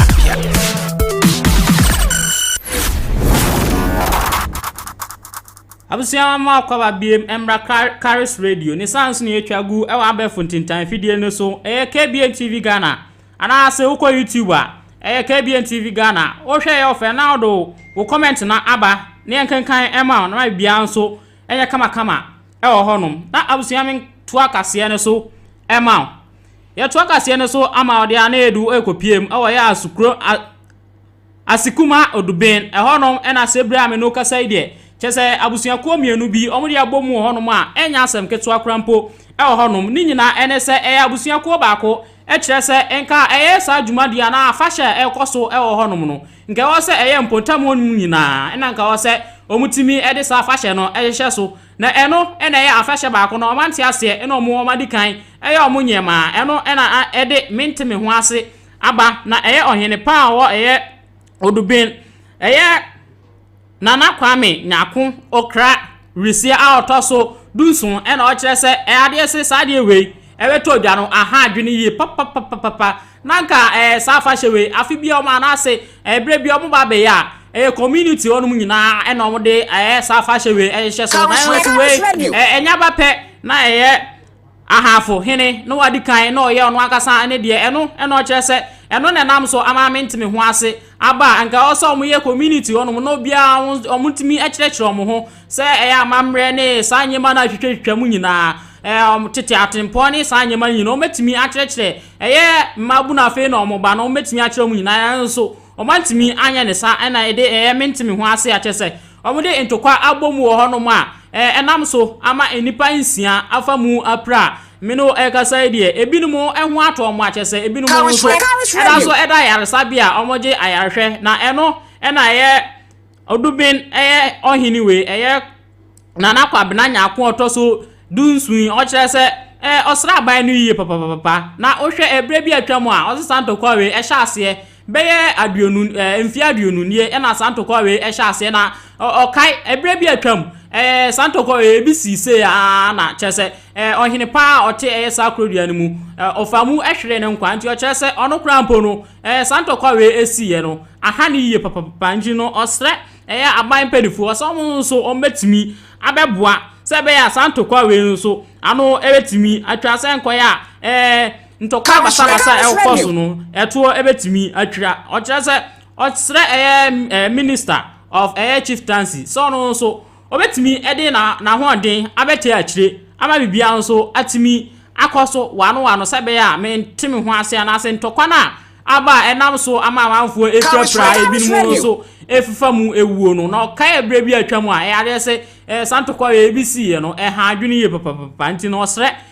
Abusua mo akɔba biem mmra Karis Radio ne saa nso na yɛtwa gu ɛwɔ abɛɛfo ntintan fidie no so ɛyɛ KBN TV Ghana anaasɛ wokɔ YouTube a ɛyɛ KBN TV Ghana wohwɛ ɛyɛ ɔfɛ na wode wo comment no aba ne yɛnkenkan ɛma wo na ma biribiara nso yɛ kamakama wɔ hɔnom na abusua me toa kaseɛ no so ma wo yɛtoa kaseɛ no so ama ɔde a na yɛdu ɛkɔpiem wɔ yɛ asukuro asekuma oduben ɛhɔnom ɛna sɛ bere a me no kasa yi deɛ kyɛ sɛ abusuakuo mmienu bi wɔn de abɔ mu wɔ hɔnom a ɛnyɛ asɛm ketewa kora mpo wɔ hɔnom ne nyinaa ɛne sɛ ɛyɛ abusuakuo baako ɛkyerɛ sɛ nka ɛyɛ saa dwumadie anaa afahyɛ a ɛkɔ so wɔ hɔnom no Nka ɛwɔ sɛ ɛyɛ mpotam hɔ no nyinaa na nka ɛwɔ sɛ wɔtumi de saa afahyɛ no hyehyɛ so, na ɛno na ɛyɛ afahyɛ baako no a wɔante aseɛ na wɔadi kan yɛ wɔn nneɛma, ɛno na ɛde mente-me-ho-ase aba, na ɛyɛ ɔhene pa a ɔwɔ ɛyɛ Odubin, ɛyɛ. Nana Kwame Nyarko Okrah Wiresia a ɔtɔ so dunson na ɔkyerɛ sɛ adeɛ se saa adeɛ wei ɛbɛtɔ odwa no aha adwene yie papapapapa na anka ɛɛ saa afahyɛ wei afe bia wɔn anaase ɛɛ berɛ bia wɔn ba abɛyɛ a ɛyɛ community hɔ nom nyinaa ɛna wɔn de ɛɛ saa afahyɛ wei ɛhyehyɛ so na ɛno nso wei ɛɛ ɛnyɛ aba pɛ na ɛyɛ Ahafo hene no adi kan na ɔyɛ ɔno ankasa ne deɛ, ɛno na ɔkyerɛ sɛ ɛno na ɛnam so ama mente me ho ase. Aba a anka ɛwɔ sɛ wɔyɛ community hɔnom na obiara wɔn wɔntumi kyerɛkyerɛ wɔn ho sɛ ɛyɛ amammerɛ ne saa nneɛma no a ɛtwitwatwitwa mu nyinaa, ɛɛ wɔn tete atempɔn ne saa nneɛma no nyinaa wɔbɛtumi akyerɛkyerɛ ɛyɛ mmabunu afei na wɔn ba no wɔbɛtumi akyerɛ wɔn nyinaa nanso wɔantumi anyɛ ne saa ɛna ɛde ɛyɛ mente me ho ase akyerɛ sɛ Wɔde ntokwa abɔ mu wɔ hɔnom a, ɛnam so ama nnipa nsia afa mu apira. Me ne wo rekasa yi deɛ, ebinom ho atɔ wɔn akyɛ sɛ ebinom nso da so da ayaresabea a wɔgye ayarehwɛ, na ɛno na ɛyɛ Oduben yɛ ɔhene wei, ɛyɛ Nana Kwabena Nyarko a ɔtɔ so dunson yi, ɔkyerɛ sɛ ɔsraban no yie papapapa, na wohwɛ ɛberɛ bi a atwam a, ɔsesa ntokwa wei, ɛhyɛ aseɛ Bɛyɛ aduonu ɛɛ mfie aduonu nie ɛna saa ntɔkwa wei ɛhyɛ aseɛ na ɔkae ɛberɛ bi atwam ɛɛ saa ntɔkwa wei ebi sii sei aa na kyerɛ sɛ ɛɛ ɔhene paa a ɔte ɛyɛ saa kurodua no mu ɛɛ ɔfa mu ɛhweree ne nkwa nti ɔkyerɛ sɛ ɔno koraa mpo no ɛɛ saa ntɔkwa wei esiiɛ no aha ne yie papapapa nti no ɔsrɛ ɛyɛ aban mpanimfoɔ sɛ wɔn nso wɔn bɛtumi abɛboa sɛ ɛbɛyɛ a saa ntɔkwa wei nso ano ɛbɛtumi atwa sɛ nkɔyɛ a ɛɛ. Ntɔkwa basabasa a ɛkɔ so no, ɛtoɔ bɛtumi atwira. Ɔkyerɛ sɛ ɔsrɛ ɛyɛ ɛɛ minister of ɛyɛ chieftaincy sɛ ɔno nso ɔbɛtumi de na n'ahoɔden abɛkyɛ akyire ama biribiara nso atumi akɔ so wano wano sɛ ɛbɛyɛ a mente me ho ase anaasɛ ntɔkwa no a aba a ɛnam so ama amanfoɔ efirafira ebinom nso efifa mu ewuo no na ɔkae ɛberɛ bi atwa mu a ɛyɛ adeɛ sɛ ɛɛ santokɔ yɛ ebi siiɛ no ɛha adwene yie papapapa nti na ɔsrɛ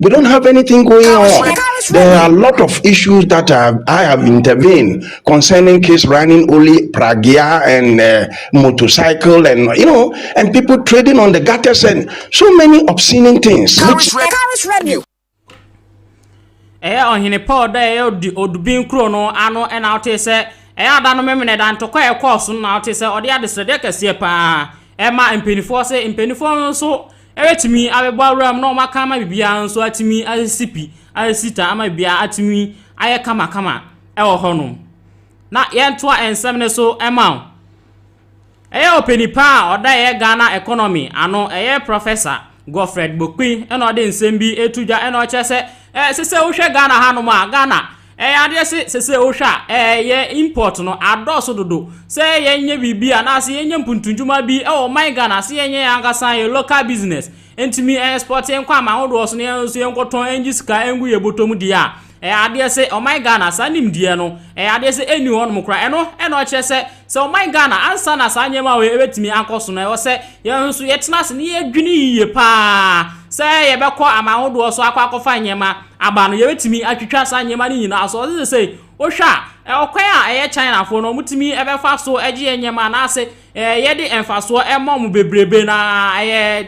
They don't have anything going on. There are a lot of issues that are, I have intervened concerning kids running only pragya and uh, motorcycle and you know, and people trading on the gutters and so many obscene things. Which... ɛyɛ ɔhene paul dɛ ɛyɛ odubin kuro no ano ɛna ɔte sɛ ɛyɛ ada no memene da ntɔkwa a ɛkɔɔ so na ɔte sɛ ɔde adesrɛdeɛ kɛseɛ paa ɛma mpanimfoɔ sɛ mpanimfoɔ no nso Ebetumi abɛbɔ abira mu na wɔaka ama biribiara nso atumi asisi pi, asisi ta ama biribiara atumi ayɛ kamakama wɔ hɔnom. Na yɛntoa nsɛm no so ma wo. Ɛyɛ ɔpani pa a ɔda ɛyɛ Ghana economy ano, ɛyɛ Professor Godfred Bokpin na ɔde nsɛm bi to dwa na ɔkyerɛ sɛ ɛsɛ sɛ wohwɛ Ghana hanom a, Ghana Ɛyɛ adeɛ se sese wo hwɛ a yɛ import no adɔɔso dodo sɛ yɛ nyɛ biribi anaa se yɛ nyɛ mpuntunjuma bi wɔ ɔman Ghana se yɛ nyɛ yɛ ankasa yɛ local business ntumi export yɛ nkɔ aman ahodoɔ so na yɛ nso yɛ nkɔ tɔn ngye sika ngu yɛ bɔtɔ mu deɛ a ɛyɛ adeɛ se ɔman Ghana saa nimdeɛ no ɛyɛ adeɛ se enni hɔ nom koraa ɛno na ɔkyerɛ sɛ sɛ ɔman Ghana ansa na saa nneɛma wei ɛbɛtumi akɔ so no ɛwɔ sɛ yɛ nso yɛ tena ase na yɛ dwene yiye paa sɛ yɛ bɛkɔ aman ahodoɔ so akɔ akɔfa nneɛma aba no yɛbɛtumi atwitwa saa nneɛma no nyinaa so. Ɔse sesei wohwɛ a ɔkwan a ɛyɛ Chinafoɔ no wɔtumi bɛfa so gye yɛn nneɛma anaase yɛde mfasoɔ ma wɔn bebrebe na ɛyɛ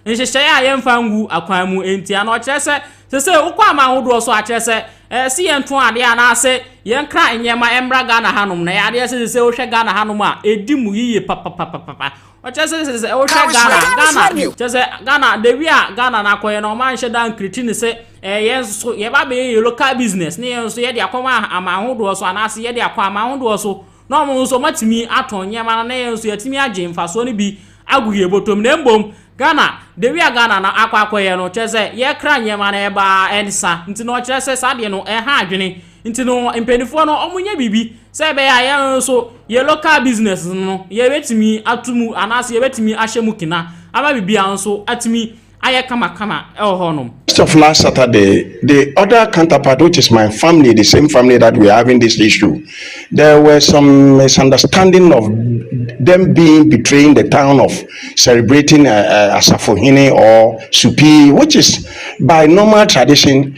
nhyehyɛeɛ a yɛmfa ngu akwan mu ntia no. Ɔkyerɛ sɛ sesei wokɔ aman ahodoɔ so a kyerɛ sɛ ɛse yɛnto adeɛ anaase yɛnkra nneɛma mmra Ghana hanom na ɛyɛ adeɛ sɛ sesei wohwɛ Ghana hanom a ɛdi mu yiye papapapapa. ɔkyɛ sɛ sɛ sɛ wohwɛ ghana ghana kyɛ sɛ ghana the way a ghana no akɔyɛ no ɔma nhyɛ da nkriti ne sɛ ɛyɛ nso yɛba bɛyɛ yɛ local business ne yɛ nso yɛde akɔma aman ahodoɔ so anaasɛ yɛde akɔ aman ahodoɔ so na ɔmo nso ɔmatumi atɔn nneɛma no na yɛ nso yɛatumi agye mfasoɔ no bi agu yɛ bɔtɔm na mbom ghana the way a ghana no akɔ akɔyɛ no kyerɛ sɛ yɛkra nneɛma no ɛbaa ɛnsa nti na ɔkyerɛ sɛ saa deɛ no ɛha adwene Nti no mpaninfoɔ no ɔmo nyɛ biribi sɛ ɛbɛyɛ a yɛn nso yɛn local business no yɛbɛtumi ato mu anaasɛ yɛbɛtumi ahyɛ mu kena ama biribiara nso atumi ayɛ kamakama ɛwɔ hɔ nom. Just of last Saturday the other counterpart which is my family the same family that we are having this issue there were some misunderstanding of them being betraying the town of celebrating uh, uh, Asafohene or Supi which is by normal tradition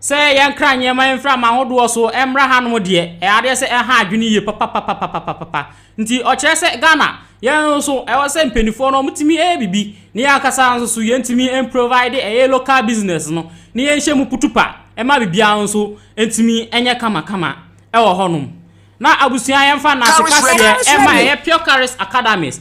Sɛ yɛnkra nneɛma mframa ahodoɔ so mmra hanom deɛ, ɛyɛ adeɛ sɛ ɛha adwene yie papapapapapapa. Nti ɔkyerɛ sɛ Ghana, yɛn nso ɛwɔ sɛ mpaninfoɔ no wɔtumi yɛ biribi na yɛn ankasa nso so yɛntumi mprovide ɛyɛ local business no na yɛnhyɛ mu kutupa ma biribiara nso ntumi nyɛ kamakama ɛwɔ hɔnom. Na abusua yɛmfa nnaase kaseɛ ɛma ɛyɛ Pure Curries Academies,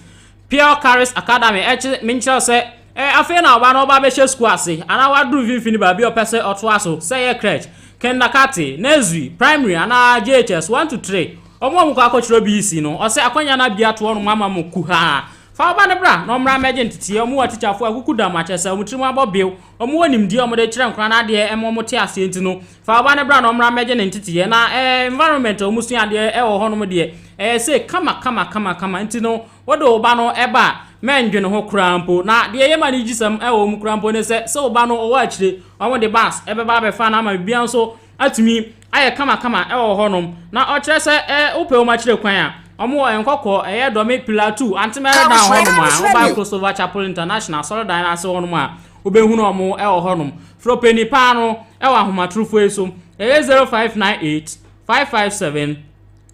Pure Curries Academy ɛkyerɛ menkyerɛ sɛ Afei na ɔba no ɔba bɛhyɛ sukuu ase anaa waduru mfimfini baabi a ɔpɛ sɛ ɔtoa so, sɛ ɛyɛ crèche, kindercarte, nursery, primary anaa JHS one to three. Wɔn a wɔkɔ akɔkyerɛ BEC no, ɔsɛ akwanya no abue ato wɔnom ama mo kuhaa. Fa wo ba no bra na ɔmmra mmɛgye nteteeɛ. Wɔwɔ atikyafoɔ a wɔkuku dam, akyerɛ sɛ wɔn tirim abɔ bew. Wɔwɔ nimdeɛ a wɔde kyerɛ nkwadaa no adeɛ ma wɔte aseɛ nti no, fa wo ba no bra na ɔmmra mmɛgye ne nteteeɛ. Na environment a wɔsua adeɛ wɔ hɔnom deɛ, ɛyɛ sei kama kama kama kama nti no, Wode wo ba no ba a, mɛndwene ho koraa mpo. Na deɛ ɛyɛ me anigyesɛm wɔ mu koraa mpo ne sɛ, sɛ wo ba no wɔ akyire, wɔn de bus bɛba abɛfa no ama biribiara nso atumi ayɛ kamakama wɔ hɔnom. Na ɔkyerɛ sɛ wopɛ wɔn akyire kwan a, wɔwɔ Nkɔkɔɔ, ɛyɛ Dɔme, Pilatou, Antemerɛ Dan hɔnom a, woba Crossover Chapel International Asɔredan no ase hɔnom a, wobɛhunu wɔn wɔ hɔnom. Frɛ ɔpanin paa no wɔ ahomatorofoɔ yi so, ɛyɛ 0598 557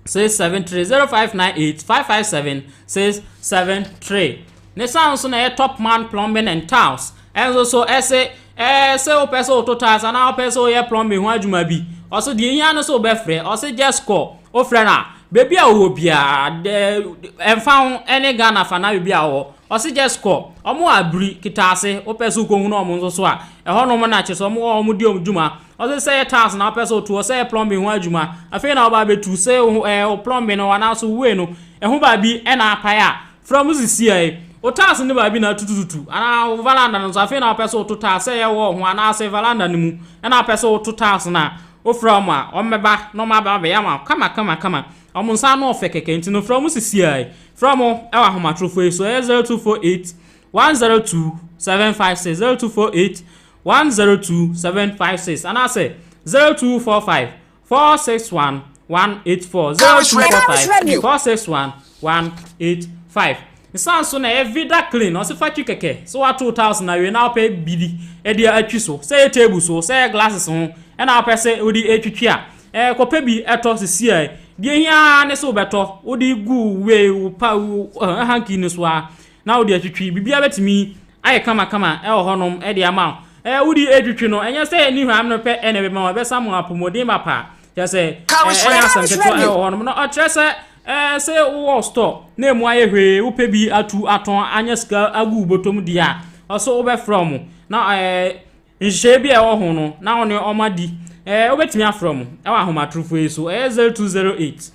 six seven three zero five nine eight five five seven six seven three ne san so na ɛyɛ top man plumbing and tiles ɛnso so ɛsɛ ɛɛ sɛ wopɛ sɛ woto tiles anaa wopɛ sɛ woyɛ plumbing ho adwuma bi ɔso deɛ ehia no so wobɛfrɛ ɔsɛ just kɔ wofrɛ no a beebi a wɔwɔ biara dɛ ɛnfa ho ɛne ghana fa na beebi a wɔwɔ ɔsɛ just kɔ wɔn wɔ abiri kitaase wopɛ so wokɔ hunu wɔn nso so a ɛhɔ nom na kyerɛ sɛ wɔn wɔ wɔn di wɔn dwuma. Ɔse sɛ yɛ tiles na wopɛ sɛ wotu hɔ, sɛ yɛ plumbing ho adwuma, afei na woba abɛtu, sɛ wo ɛɛ wo plumbing no anaaso wei no, ɛho baabi na apae a, frɛ mo sisiae. Wo tiles no baabi na atutututu, anaa wo veranda no nso, afei na wopɛ sɛ woto tiles, sɛ yɛ wall ho anaase veranda no mu na wopɛ sɛ woto tiles no a, wofrɛ wɔn a, wɔbɛba na wɔaba abɛyɛ ama wo kama kama kama. Wɔn nsa ano ɔfɛ kɛkɛ, nti no frɛ mo sisiae. Frɛ mo wɔ ahomatorofoɔ yi so, ɛyɛ 0248 102 756, 0248 102756 anaasɛ 0245 461 184 0245 461 185 nsan so na ɛyɛ vida clean ɔsɛ fa twi kɛkɛ sɛ wato tiles na awie na wopɛ biribi ɛde atwi so sɛ yɛ table so sɛ yɛ glasses ho ɛna wopɛ sɛ wode atwitwi a ɛɛ kɔpɛ bi ɛtɔ sisi a deɛ hia ne sɛ wobɛtɔ wode gu wei wo pa wo hanky no so a Na wode atwitwi. Biribiara bɛtumi ayɛ kamakama wɔ hɔnom de ama wo. Ɛɛ, wode retwitwi no, ɛnyɛ sɛ ne hwam no pɛ na ɛbɛma wo, ɛbɛsa mo apɔmuden mapa. Kyerɛ sɛ, ɛnyɛ asɛm ketewa wɔ hɔnom. Na ɔkyerɛ sɛ, ɛɛ, sɛ wowɔ store na emu ayɛ hwee, wopɛ bi atu atɔn anya sika agu wo bɔtɔ mu deɛ a, ɔse wobɛfrɛ wɔn. Na ɛɛ, nhyehyɛeɛ bi a ɛwɔ ho no, na wo ne wɔn adi. Ɛɛ, wobɛtumi afrɛ wɔn wɔ ahomatorofo yi so, ɛyɛ 0208.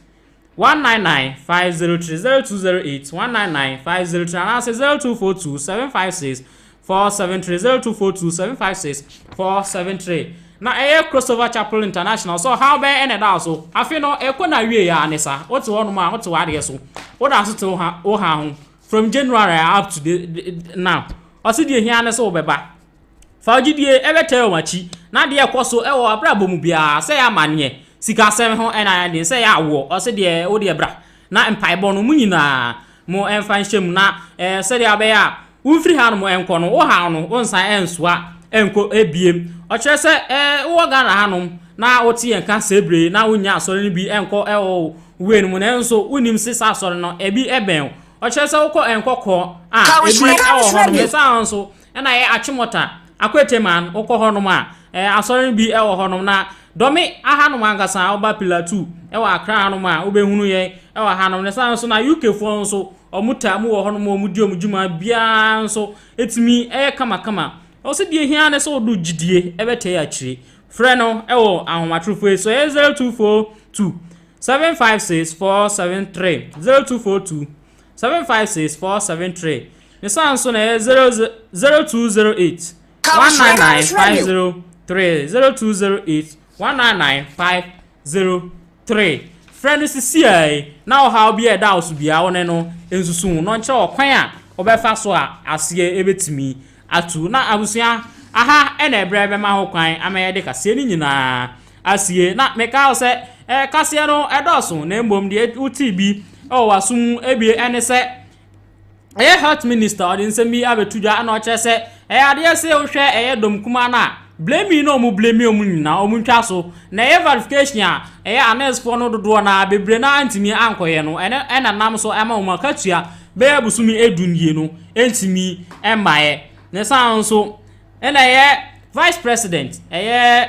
one nine nine five zero three zero two zero eight one nine nine five zero three anaasɛ zero two four two seven five six four seven three zero two four two seven five six four seven three na ɛyɛ crossover chapel international so ɔhaw bɛyɛ ɛna ɛda so afei no ɛkɔ na awie yɛ ne saa wote hɔ nom a wote wɔ adeɛ so woda so te wo ha ho from january up to the, the, now ɔsi deɛ hia ne sɛ wobɛba Fa wo gyidie bɛkyɛre wɔn akyi, na deɛ ɛkɔ so wɔ w'abrabɔ mu biara, sɛ ɛyɛ amanneɛ, sikasɛm ho ɛna ɛne sɛ ɛyɛ awoɔ, ɔse deɛ wo deɛ bra, na mpaebɔ no mo nyinaa mo mfa nhyɛ mu, na ɛɛ sɛdeɛ abɛyɛ a womfiri hanom nkɔ no, wo haw no wonsan nsoa nkɔ biem. Ɔkyerɛ sɛ ɛɛ wowɔ Ghana hanom na wote yɛn ka sɛ bere na wonnya asɔre no bi nkɔ wɔ wo wei no mu, nanso wonim se saa asɔre no ebi bɛn wo. Ɔkyerɛ sɛ wokɔ nkɔkɔ a ebi wɔ hɔnom, ɛsan nso Ɛna ɛyɛ Achimota, Akwete man, wokɔ hɔ nom a, ɛɛ asɔre no bi ɛwɔ hɔ nom, na dɔme aha nom ankasa a woba Pilatu ɛwɔ Accra ha nom a wobɛ hunu yɛn ɛwɔ ha nom, na ɛsan nso na UK foɔ nso ɔmo taa mu wɔ hɔ nom a ɔmo di ɔmo dwuma biaa nso ɛtumi ɛyɛ kama kama. Ɛwɔ sɛ deɛ ɛhia ne sɛ wode wo gyidie ɛbɛ tɛɛ akyire. Frɛ no ɛwɔ ahomatrofo yi so ɛyɛ 0242 756 473 0242 seven five six four seven three ne san so na ɛyɛ zero zero two zero eight one nine nine five zero three zero two zero eight one nine nine five zero three frɛ no sisi a yi na ɔhaw bi a ɛda wo so biara wo ne no nsusu ho na ɔnkyerɛ ɔkwan a wɔbɛfa so a aseɛ ɛbɛtumi ato na abusua aha ɛna ɛbrɛ bɛma ho kwan ama yɛde kaseɛ no nyinaa asie. Na mekae wo sɛ, Ɛkaseɛ no dɔɔso, na mmom deɛ wotee bi wɔ w'aso mu ebie ɛne sɛ ɛyɛ health minister ɔde nsɛm bi abɛto dwa ɛna ɔkyerɛ sɛ ɛyɛ adeɛ sɛ wohwɛ ɛyɛ dɔm kumaa no a blaming na ɔmo blame ɔmo nyinaa ɔmo ntwa so na ɛyɛ verification a ɛyɛ anɛsfoɔ no dodoɔ na bebree na antumi ankɔyɛ no ɛne ɛna nam so ɛma ɔmo akatua bɛyɛ busumi edu nie no ɛntumi ɛmmaeɛ ne saa nso Ɛna ɛyɛ vice president, ɛyɛ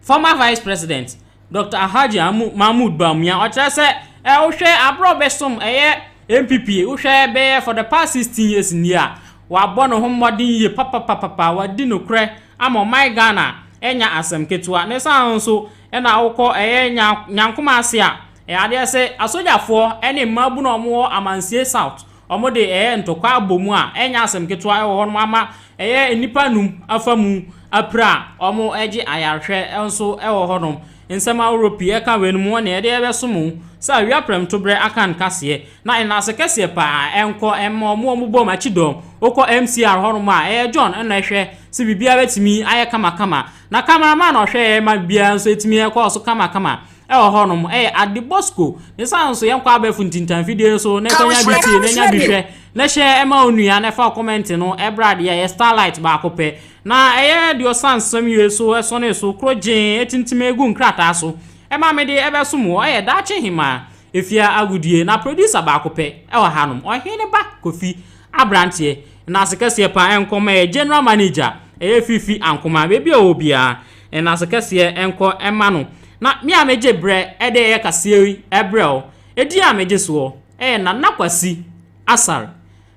former vice president Doctor Alhaji Mahmood Bawumia, ɔkyerɛ sɛ ɛ wohwɛ abere a ɔbɛsom ɛyɛ NPP, wohwɛ bɛyɛ for the past sixteen years nie a, wabɔ ne ho mmɔden yie papapapapa, wadi nokorɛ ama ɔman Ghana, ɛnyɛ asɛm ketewa. Ne saa nso ɛna wokɔ ɛyɛ nya Nyankoma ase a, ɛ adeɛ sɛ asogyafoɔ ɛne mmaabunu a wɔwɔ Amansie South, Wɔde ɛyɛ ntɔkwa abɔ mu a ɛnyɛ asɛm ketewa wɔ hɔnom ama ɛyɛ nnipa nnum afa mu apira a wɔregye ayarehwɛ nso wɔ hɔnom. Nsɛm ahorow pii a ɛka weinom ho ne ɛdeɛn bɛso mo sɛ awia prɛmtoberɛ aka nkaseɛ na nnaase kɛseɛ pa ara ɛnkɔ mma wɔn a wɔbɔ mo akyi dɔm. Wokɔ MCR hɔnom a ɛyɛ John na ɛhwɛ sɛ biribiara bɛtumi ayɛ kamakama na camera man a ɔhwɛ yɛn ma biribiara nso tumi kɔɔ so kamakama. wɔ hɔnom yɛ ade bɔ sukuu ne san so yɛnkɔ abɛɛfo ntintan fidie so na ɛkɔnya bi tie na ɛnya bi hwɛ na hyɛ ɛma onua na ɛfa kɔmɛnte no ɛbrɛ adeɛ yɛ starlight baako pɛ na ɛyɛ deɛ ɔsan nsɛm yie so ɛsɔne so kuro gyee ɛtintim egu nkrataa so ɛma mede ɛbɛsom wɔ ɛyɛ daakye hemaa efia agodie na producer baako pɛ ɛwɔ hanom ɔhene ba kofi abranteɛ na asekɛseɛ paa ɛnkɔma yɛ general manager ɛyɛ fifi ankoma baabi a ɔwɔ biara Nnaase kɛseɛ nkɔ mma no. Na me a megye berɛ de yɛ kaseɛ yi brɛ wo. Edin a megye soɔ yɛ Nana Kwasi Asare.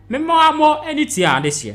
Me mmoammɔ ani tua adehyeɛ.